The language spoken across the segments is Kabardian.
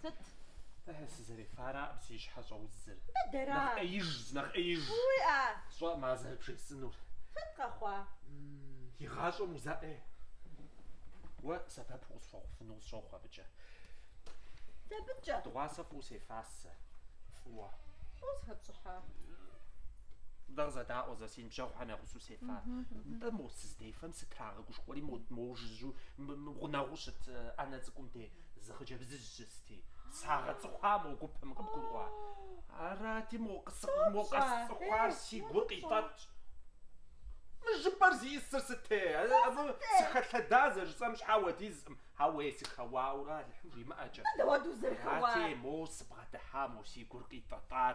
Сыт? Ыхьы, сызэрефара абы си щхьэр щӏэузыр. Дыдэра? Нэхъ ӏеиж, нэхъ ӏеиж. Уиӏэ? Сщӏэкъым зэрыбжесӏэнур. Сыт къэхъуа? Игъащӏэм узэӏе. Уэ сэбэп укъысхуэхъуфыну къысщохъу абыкӏэ. Дабынкӏэ? Дыгъуасэ фӏыуэ сефасэ. Фӏыуэ. Фӏыуэ зыхэпщӏыхьа? Дэ къызэдаӏуэ зэ, си ныбжьэгъухэм я гъусэу сефа. Нтӏэ, мо сызыдефэм сытрагъэгушхуэри, мо, мо жыжьу, мы, мы гъунэгъуу щыт ӏэнэ цӏыкӏум де. Зы хъыджэбзыжь щысти, сагъэцӏыхуа мо гупым, къыбгурыӏуа? Арати, мо къэсцӏыхуар си гур къитӏэтщ. Мы жыпӏэр зиӏысыр сыте? Абы сыхэлъэда зэрыжысӏэм щхьэ уэдизкъым, ауэ сыхэуауэ Алыхьым жимыӏэкӏэ. Дауэт узэрыхэуар? Арати, мо сыбгъэдыхьа мо си гур къитӏэтӏар,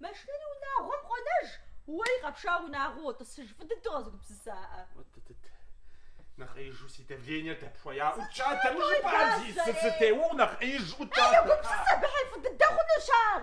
Машинэри унагъуэм къонэж, уэри къэпшауэ унагъуэу уотӏысыж, фӏы дыдэу къэзыгупсысаӏэ. Уэт дыд, нэхъ ӏеижу си давлениер дэпхуея ӏукӏ адэ, мы жыпӏар зи, сыте, уэу нэхъ ӏеиж ӏукӏа. Егупсыс абы, ыхьы, фӏы дыдэ хъунущ ар.